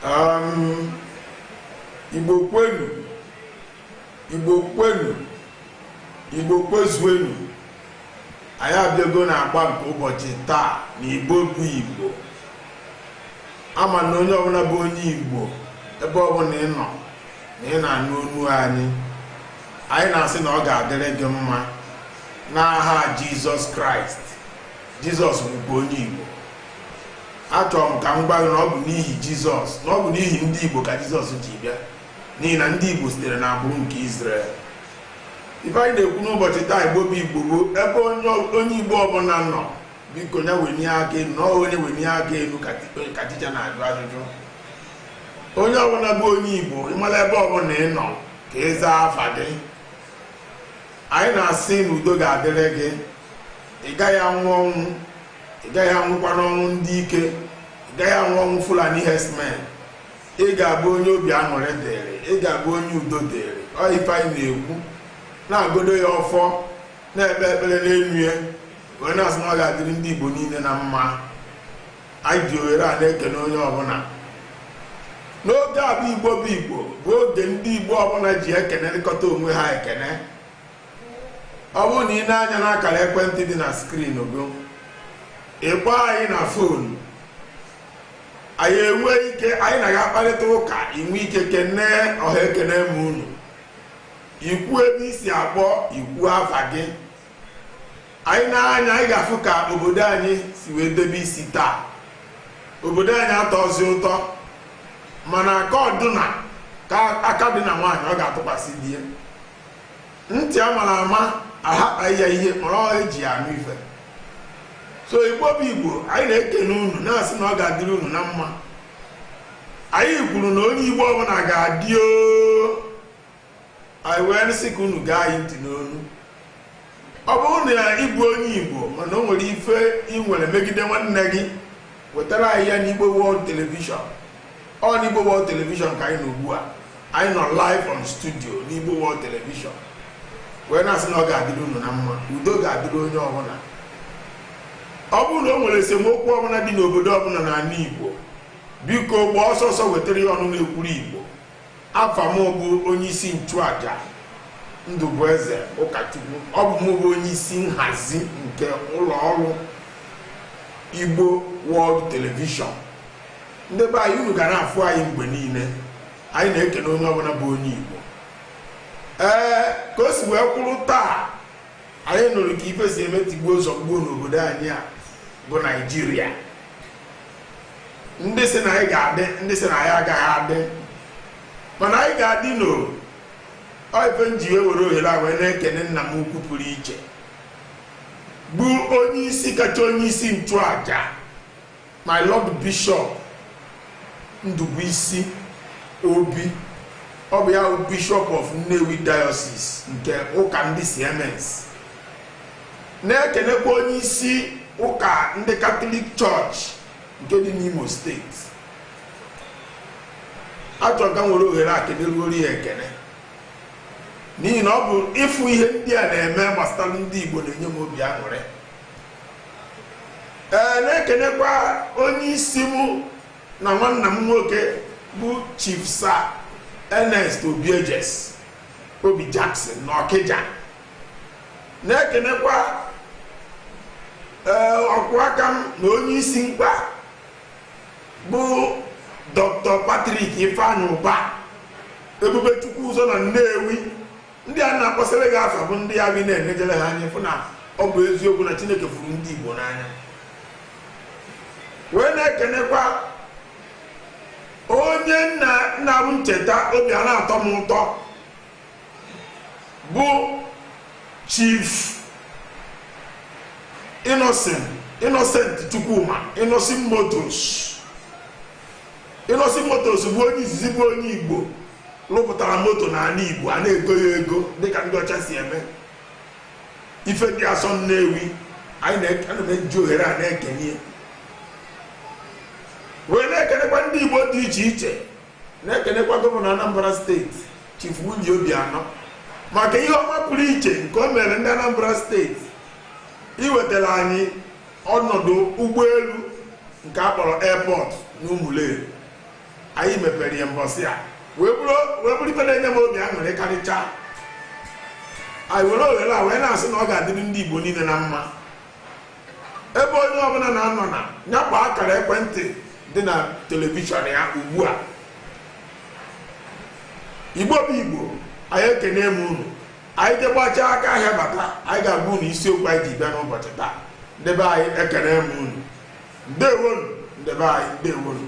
Um, igbo kwenu igbo kwenu igbo kwezuenu anyị abịago na agba nke ụbọchị taa na igbo bụ igbo ama na onye ọbụla bụ onye igbo ebe ọbụla ị nọ na ị na-anụ onu anyị anyị na-asị na ọ ga-adịrị gị mma n'aha jizọs kraịst jizọs bụkwa onye igbo achọrọ m ka m gwa gị na ọ bụ n'ihi jizọs na ọ bụ n'ihi ndị igbo ka jizọs ji bịa n'ihi na ndị igbo sitere na agbụrụ nke izrel ife anyị na-ekwu n'ụbọchị taa igbo bụ igbo bụ ebe onye igbo ọbụla nọ biko ya wenie aka elu na ọ onye wenie aka elu ka ticha na-ajụ ajụjụ onye ọbụla bụ onye igbo ịmala ebe ọbụla ị nọ ka ị zaa afa gị anyị na-asị na udo ga-adịrị gị ị gaghị anwụ ọnwụ ị gaghị anwụkwa n'ọnwụ ndị ike ị gaghị anwụ ọnwụ fulani herdsmen ị ga-abụ onye obi aṅụrị dịrị ị ga-abụ onye udo dịrị ọ ife anyị na-ekwu na-agọdo ya ọfọ na-ekpe ekpere n'elu ya wee na-asị na ọ ga-adịrị ndị igbo niile na mma anyị ji ohere a na-ekene onye ọbụla n'oge a bụ igbo bụ igbo bụ oge ndị igbo ọbụla ji ekenerịkọta onwe ha ekene ọ bụrụ na ị nee anya n'akara ekwentị dị na skrin gị ị kpọọ anyị na fon anyị enwe ike anyị na gị akparịta ụka i nwee ike kenee ọha ekene ma unu i kwuo ebe i si akpọ i kwuo afa gị anyị nee anya anyị ga-afụ ka obodo anyị si wee debe isi taa obodo anyị atọzi ụtọ mana aka ọdụna ka aka dị na nwaanyị ọ ga-atụkwasị di ya ntị a mara ama ahakpa ya ihe mara ọ eji ya anụ ife so igbo bụ igbo anyị na-ekene unu na-asị na ọ ga-adịrị unu na mma anyị kwuru na onye igbo ọbụla ga-adị oo anyị wee na-asị ka unu gee anyị ntị n'onu ọ bụrụ na ị bụ onye igbo mana o nwere ife ị nwere megide nwanne gị wetara anyị ya n'igbo world television ọ n'igbo world television ka anyị nọ ugbu a anyị nọ live on studio n'igbo world television wee na-asị na ọ ga-adịrị unu na mma udo ga-adịrị onye ọbụla ọ bụrụ na o nwere esemokwu ọbụla dị n'obodo ọbụla n'ala igbo biko gbaa ọsọ ọsọ wetara ya ọnụ na-ekwuru igbo Afa mụ bụ onyeisi nchụaja Ndụbụeze Ụkachukwu. Ọ bụ mụ bụ onyeisi nhazi nke ụlọọrụ Igbo World Television. Ndị be anyị unu ga na-afụ anyị mgbe niile. Anyị na-ekene onye ọbụla bụ onye Igbo. Ee, ka o si wee kwụrụ taa, anyị nụrụ ka ife si eme tigbuo zọgbuo n'obodo anyị a bụ Naịjirịa. ndị sị na anyị ga-adị ndị sị na anyị agaghị adị mana anyị ga-adị n'ọ ọ ife m ji wee were ohere a wee na-ekene nna m ukwu pụrụ iche bụ onye isi kacha onye isi nchụaja my lord bishop Ndubuisi Obi ọ bụ ya bụ bishop of Nnewi diocese nke ụka ndị CMS Na-ekenekwa onye isi ụka ndị Katọlik Chọọchị nke dị n'Imo steeti. Achọrọ m ka m were ohere a keneruoro ya ekene n'ihi na ọ bụ ịfụ ihe ndị a na-eme gbasara ndị Igbo na-enye m obi aṅụrị. Ee, na-ekenekwa onye isi mụ na nwanna m nwoke bụ Chief Sir Ernest Obiejesi Obijackson n'Ọkịja. na-ekenekwa ee ọkwụ aka m na onye isi m kwa bụ dr patrick ifeanyị ụba ebube chukwu ụzọ na nnewi ndị a m na-akpọsịrị gị afa bụ ndị anyị na-enejere ha anya fụ na ọ bụ eziokwu na chineke fụrụ ndị igbo n'anya wee na-ekenekwa onye m na- ana m echeta obi a na-atọ m ụtọ bụ chief innocent chukwuma innoson motors innoson motors bụ onye izizi bụ onye igbo rụpụtara moto n'anị igbo a na-ego ya ego dịka ndị ọcha si eme ifedịasọ nnewi anyị na- ana m eji ohere a na-ekene ya wee na-ekenekwa ndị igbo dị iche iche na-ekenekwa gọvanọ Anambra steeti Chief Willie Obianọ maka ihe ọma pụrụ iche nke o mere ndị Anambra steeti iwetara anyị ọnọdụ ụgbọelu nke a kpọrọ airport n'Ụmụleri anyị mepere ya mbọsị a wee bụrụ ife na-enye m obi aṅụrị karịchaa anyị were ohere a wee na-asị na ọ ga-adịrị ndị Igbo niile na mma ebe onye ọbụla na-anọ na ya kpọọ akara ekwentị dị na telivishọn ya ugbu a igbo bụ igbo anyị ekene m unu anyị jee gbachaa aka ahịa bata anyị ga-agwa unu isiokwu anyị ji bịa n'ụbọchị taa ndị be anyị ekene m unu ndewonu ndị be anyị ndewonu